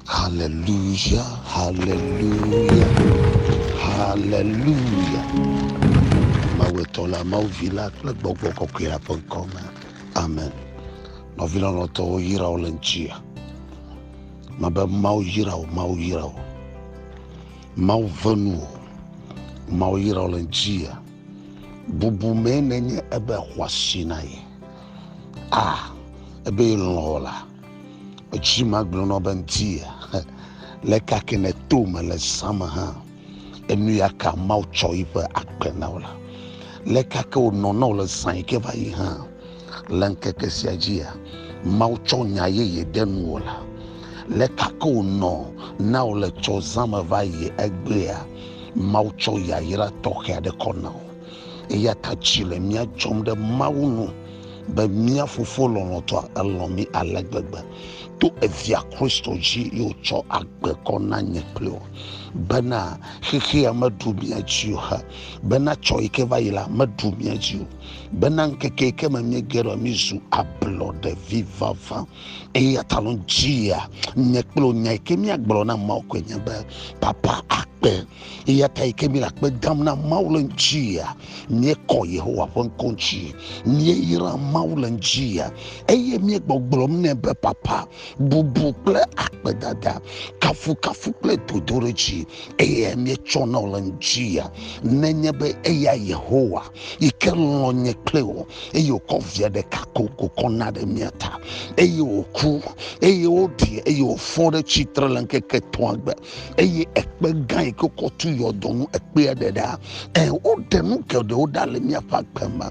Haleluya, haleluya, haleluya. Mawu etɔ la, Mawu vi la kple gbɔgbɔ kɔkɔe la ƒe ŋkɔ me. Amen. Nɔvi lɔlɔ̃tɔwo yra wo le ŋutia. Mebe Mawu yra wo, Mawu yra wo. Mawu ve nu wo. Mawu yra wo le ŋutia. Bubu mee nenye ebe xɔasi na ye. a ebe lɔ̃ la etsi magblɔnɔ be ŋti le kake ne to me le zame hã enu ya ka mawu tsɔ yiƒe agbe na wo la le kake wònɔ na wo le zã yi ke va yi hã le ŋkeke sia dzia mawu tsɔ nya yeye ɖe nuwo la le kake wònɔ na wo le tsɔ zame va yi egbea mawu tsɔ yayra tɔxɛ aɖe kɔ na wo Eya ta dzi le mía dzɔm ɖe Mawu nu be mía Fofo lɔlɔ̃tɔa elɔ̃ mí ale gbegbe to evia Kristo dzi ye wòtsɔ agbe kɔ na nye kple wò bena xexea meɖu mía dzi o he bena tsɔ yi ke va yi la meɖu mía dzi o bena ŋkeke yi ke me míege ɖe mízu ablɔɖe vi vavã eya ta lɔ dzia nye kple wò nya yi ke míagblɔ na Mawu koe nye be papa akpe eya ta yi ke míele akpe dam na mawu le ŋutia míekɔ yehowa ƒe ŋkɔ ŋuti míeyra mawu le ŋutia eye míegbɔgblɔm nɛ be papa bubu kple akpedada kafukafu kple dodoɖedzi eye míetsɔ na wo le ŋutia nenye be eya yehowa yi ke lɔ nye kple o eye wòkɔ via ɖeka ko kokɔ na ɖe mía ta eye wòku eye woɖi eye wòfɔ ɖe tsitre le ŋkeke etɔ̃a gbe eye ekpe gã yi ke wokɔ tu yɔdo ŋu ekpea ɖe ɖa ɛ woɖe nu geɖewo ɖa le míaƒe agbe me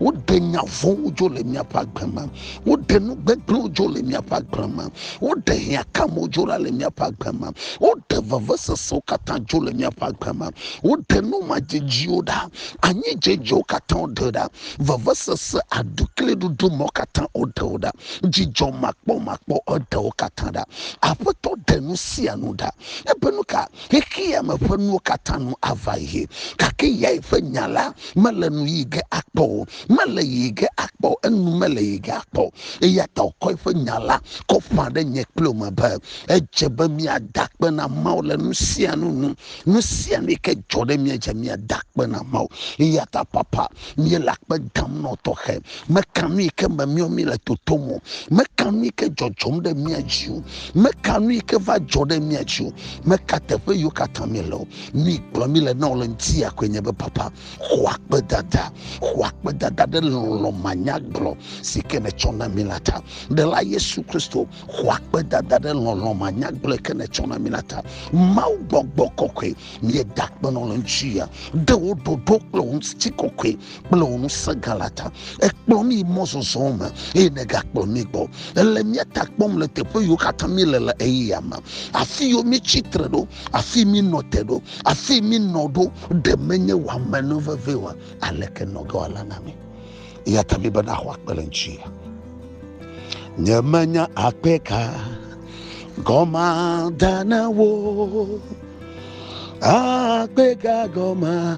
woɖe nya vɔ̃wo dzo le míaƒe agbe me woɖe nu gbegblẽwo dzo le míaƒe agbe me woɖe hiãkamewo dzo ɖa le míaƒe agbe me woɖe vevesesewo katã dzo le míaƒe agbe me woɖe nu madzedziwo ɖa anyi dzedzewo katã woɖe ɖa vevesese aɖukliɖuɖu mɔ katã woɖe wo ɖa dzidzɔ makpɔmakpɔ eɖewo katã ɖa Aƒetɔ ɖe nu sia nu ɖa. Ebe nu ka xexea me ƒe nuwo katã nu ava yi, gake yae ƒe nya la mele nu yi ge akpɔ o, mele yi ge akpɔ o, enu mele yi ge akpɔ o. Eya ta wòkɔ eƒe nya la kɔ ƒã ɖe nye kple wò me be, edze be míada akpe na Mawu le nu sia nu nu. Nu sia nu yi ke dzɔ ɖe mía dzi la, míada akpe na Mawu. Eya ta papa, míele akpe dam na wò tɔxɛ. Meka nu yi ke memiɔ mí le totom o. Meka nu yi ke dzɔdzɔm ɖe mía dzi o. Meka nu yi ke va dzɔ ɖe mía dzi o. Meka teƒe yiwo katã mí le o. Nu yi kplɔ mí le na wò le ŋuti ya koe nye be papa, xɔ akpedada, xɔ akpedada ɖe lɔlɔ̃ manyagblɔ si ke nètsɔ na mí la ta. Ɖela Yesu Kristo, xɔ akpedada ɖe lɔlɔ̃ manyagblɔ yi ke nètsɔ na mí la ta. Mawu gbɔgbɔ kɔkɔe, míeda akpe nɔ le ŋuti ya. Ɖe wò ɖoɖo kple wò ŋuti kɔkɔe kple wò ŋusẽ gã la ta. Èkplɔ mí yi mɔzɔzɔ me eye nègakplɔ mí gbɔ. Èle mía ta kpɔm le teƒe yiwo katã míele le ɣeyiɣia me. Afi yiwo mítsi tre ɖo, afi mínɔ te ɖo, afi mínɔ ɖo, ɖe menye wò ame nu vevie oa, aleke nɔ ge wòala na mí? Eya ta míbena xɔ akpe le ŋuti. Nyemenya akpe ka gɔma da na wo. Akpe ka gɔma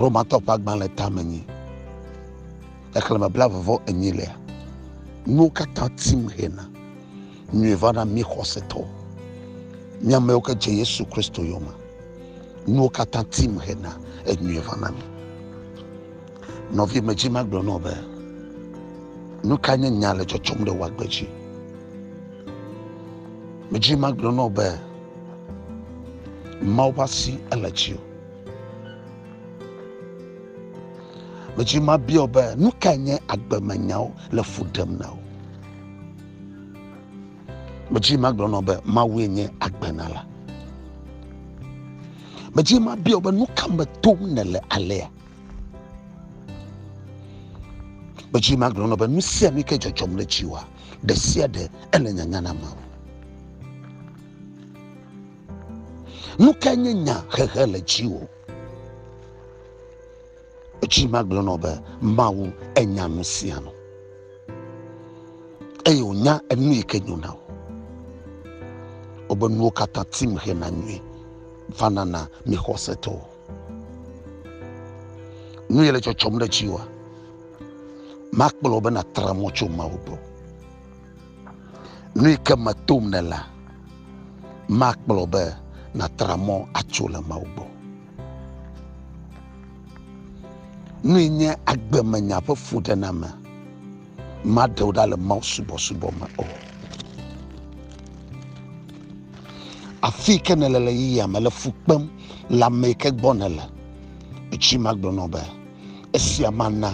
romatɔ ƒe agbalẽ tame nyi xexlẽme blavevɔ enyi lea nuwo katã tim hena nyui va na mí xɔsetɔwo mí amewo ke dze yesu kristo yome nuwo katã tim hena enyui va na mí nɔvi medzi magblɔ nɔ be nu ka nye nya le dzɔdzɔm ɖe wagbe dzi medzi magblɔ nɔ be Mawu ƒe asi ele dziwò. Medzi mabia wò be nu kae nye agbemenyawo le fu ɖem na wò? Medzi magblɔ nɔ be Mawue nye agbenala. Medzi mabia wò be nu ka me tom nèle alea? Medzi magblɔ nɔ be nu sia nu ke dzɔdzɔm ɖe dziwòa. ɖe sia ɖe ele nyanya na amewo. Nu ka nye nya hehe le dziwò? Edzi magblɔ nɔ be Mawu enya nu sia nu eye wònya enu yi ke nyo na wò. Wobe nuwo katã tim hena nyui vanana mi xɔsetɔwo. nu yele tsɔtsɔm ɖe dziwòa makplɔ be nàtra mɔ tso mawu gbɔ nu yi ke metom ne la makplɔ be nàtra mɔ atso le mawu gbɔ nu yi nye agbemenya ƒe fuɖename Maɖe wò ɖa le Mawu subɔsubɔ me o. Afi yi ke nèle le yiyia me le fu kpem le ame yi ke gbɔ nèle. Etsi magblɔ nɔ be esia mana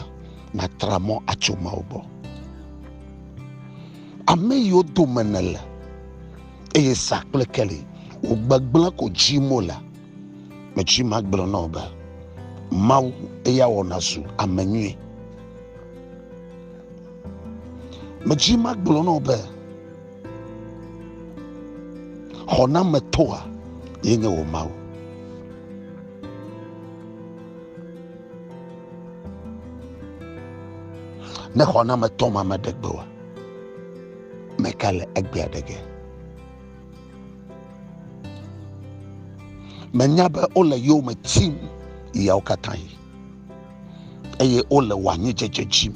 nàtra mɔ atso Mawu gbɔ. Ame yiwo dome nèle eye sa kple keli wò gbegblẽ ko dzim wole. Metsi magblɔ nɔ be Mawu eya wɔ nàzu ame nyui. medzi magblɔ nɔ be xɔnametɔa ye nye wò mawu ne xɔnametɔ ma meɖe gbe wa meka le egbe aɖe ge menya be wole yome tim yawo katã yi eye wole wò anyidzedze dzim.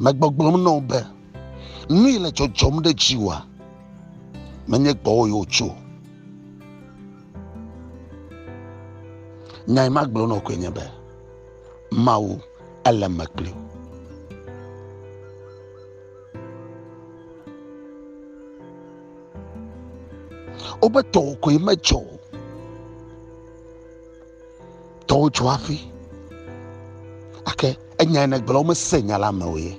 Megbɔgblɔm na wo be, nu yi le dzɔdzɔm ɖe dziwòa, menye gbɔwò yi wòtso. Nya yi magblɔ na wò koe nye be, Mawu ele me kpli wò. wobe tɔwò koe medzɔ o tɔwò dzɔ hafi ake enya yi negblɔ womese nya la me o ye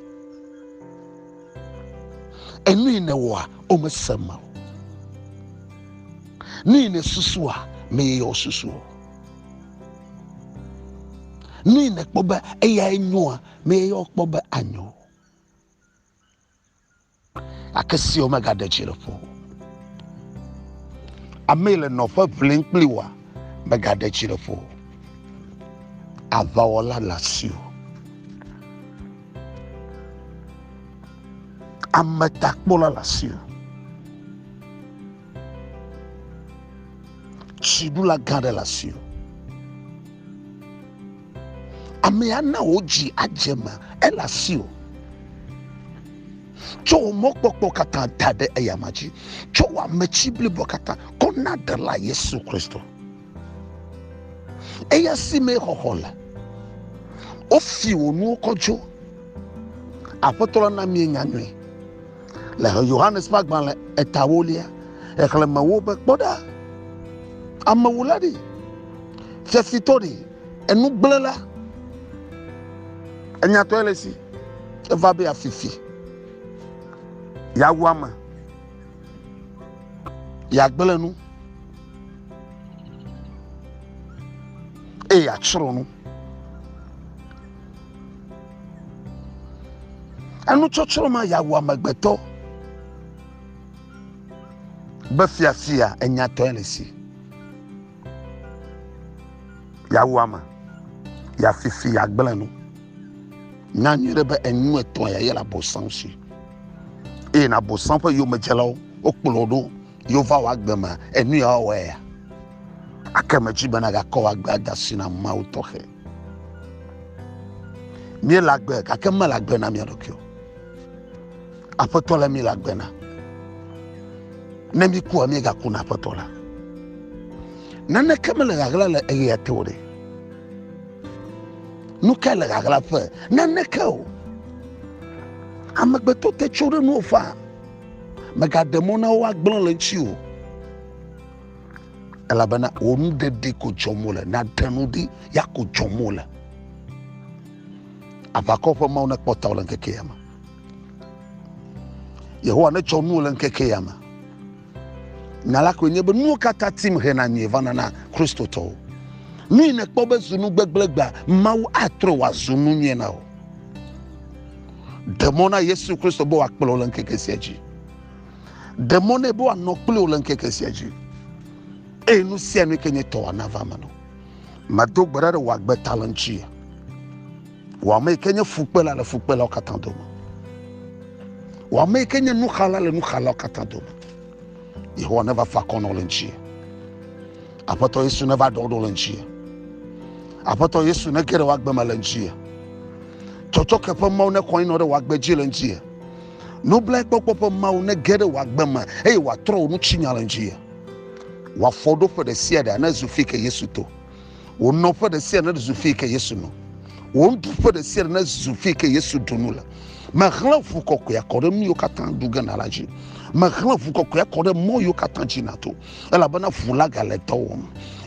enu yi newɔa womese me o nu yi nesusua meyeyɔ wo susu o nu yi nekpɔ be eyae nyoa meyeyɔ kpɔ be anyo o gake siwo megaɖe dzi le ƒo amee le nɔƒe ʋlim kpli wa megaɖe dzi le ƒo aʋawɔla le asiwò ame takpɔla le asiwò tsiɖula gã ɖe le asiwò Amea na wò dzi adze me, ele asiwò. Tsɔ wò mɔkpɔkpɔ katã da ɖe eyama dzi. Tsɔ wò ametsi blibo katã kɔ na Ɖela Yesu Kristo. Eya si mee xɔxɔ le. Wofi wò nuwo kɔ dzo. Aƒetɔ la na mienya nyuie. le Yohanes ƒe agbalẽ etawolia xexlẽmewo be kpɔ ɖa, amewula ɖi, fiafitɔ ɖi, enugblẽla, enyatɔe le si, eva be afifi, yeawu ame, yeagblẽ nu, eye atsrɔ̃ nu. Enutsɔtsrɔ̃ ma ya wu amegbetɔ be fiafia enyatɔe le si. Ya wu ame, ya fifi, ya gblẽ nu. Nya nyuie ɖe be enu etɔ̃ ya yele abosam si. Eye na abosam ƒe yomedzelawo wokplɔ ɖo. Yova wɔ agbe ma enu ya wɔwɔe ya. Ake metsi bena gakɔ wɔ agbe ada si na Mawu tɔxɛ. Míele agbe gake mele agbe na mía ɖokui o. Aƒetɔ le míele agbe na. Ne míkua míegaku na aƒetɔ la. Naneke mele ɣaɣla le eɣea te o ɖe. Nu kae le ɣaɣla ƒe? Naneke o. Amegbetɔ te tso ɖe nuwo faa. Mègaɖe mɔ na wo woagblẽ le eŋuti o, elabena wò nu ɖeɖi ko dzɔm wole. Nàɖe nu ɖi, ya ko dzɔm wole. Aʋakɔ ƒe Mawu nekpɔ tawò le ŋkeke ya me. Yehowa netsɔ nuwò le ŋkeke ya me. Nya la koe nye be nuwo katã tim hena nyui vana na Kristotɔwo. Nu yi nèkpɔ be zu nu gbegblẽgbea, Mawu atrɔe wòazu nu nyui na wò. Ɖe mɔ na Yesu Kristo be wòakplɔ le ŋkeke sia dzi. Ɖe mɔ nɛ be wòanɔ kpli wò le ŋkeke sia dzi. Eye nu sia nu ke nye tɔwòa nava eme nɔ. Medo gbe ɖa ɖe wò agbe ta le ŋuti. Wò ame yi ke nye fukpela le fukpelawo katã dome. Wò ame yi ke nye nuxala le nuxalawo katã dome. Yehowa neva fa akɔ nɔ le ŋuti. Aƒetɔ Yesu neva ɖɔɖɔ le ŋuti. Aƒetɔ Yesu nege ɖe wagbe me le ŋuti. Tsɔtsɔke ƒe Mawu ne kɔe nɔ ɖe wagbe dzi le ŋuti. Nublae kpɔkpɔ ƒe Mawu nege ɖe wagbe me eye wòatrɔ wò nutsinya le ŋuti. Wòafɔ ɖo ƒe ɖe sia ɖe ne zu fi ke Yesu to. Wò nɔ ƒe ɖe sia ne zu fi ke Yesu nɔ. Wò ŋdu ƒe ɖe sia ɖe ne zu fi ke Yesu ɖu nu le. Mehlẽ ʋu kɔkɔea kɔ ɖe nu yiwo katã ɖu ge na la dzi. Mehlẽ ʋu kɔkɔea kɔ ɖe mɔ yiwo katã dzi nato. elabena ʋu la gale dɔ wɔm.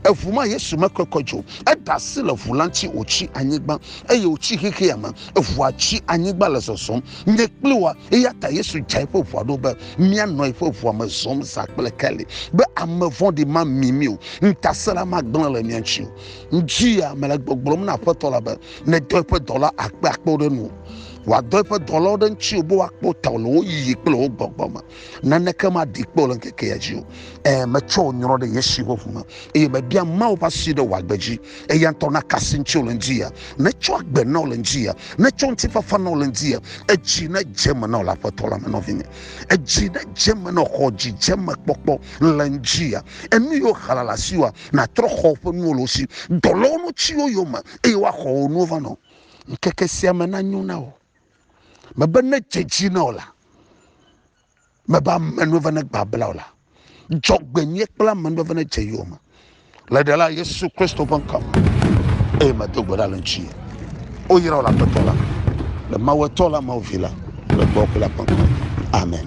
Eʋu ma Yesu mekɔkɔ dzi o. Eɖe asi le ʋu la ŋuti wòtsi anyigba eye wòtsi xexea me. Eʋua tsi anyigba le zɔzɔm. Nye kpli woa. Eya ta Yesu dza eƒe ʋua ɖo be míanɔ eƒe ʋua me zɔm zã kple keli be ame vɔ̃ɖi mami mí o, ŋutasẽla magblẽ le mía ŋuti o. Ŋdi ya mele gbɔgblɔm na Aƒetɔ la be nedɔ eƒe dɔla akpeakpewo ɖe nuwò. Wòadɔ eƒe dɔlawo ɖe ŋutiwò be woakpɔ tawò le wò yiyi kple wò gbɔgbɔ me. naneke maɖi kpɔ le ŋkeke ya dzi o e metsɔ wò nyrɔ ɖe yesi ƒe ʋu me eye mebia mawo ƒe asi ɖe wò agbe dzi eya ŋutɔ na kasi ŋuti wole ŋdi ya netsɔ agbe na wole ŋdi ya netsɔ ŋuti fafa na wole ŋdi ya edzi ne dze me na wole aƒetɔ la me nɔvinye edzi ne dze me na xɔ dzi dze me kpɔkpɔ le ŋdi ya enu yiwo hala le asi wa natrɔ xɔ ƒe nuwo le wo si dɔlɔwo nu tsiwo yome eye woaxɔ wo nuwo va nɔ ŋkeke sia me na nyo na wò mebe ne dze dzi na wò la mebe amenuveve ne gbabla wò la dzɔgbenyuie kple amenuveve ne dze yewo me le ɖela yesu kristo ƒe ŋkɔ me eye medo gbe ɖa le ŋuti woyra wò le aƒetɔ la le mawuetɔ la mawu vi la le gbɔ kple la ƒe ŋkɔ me. amen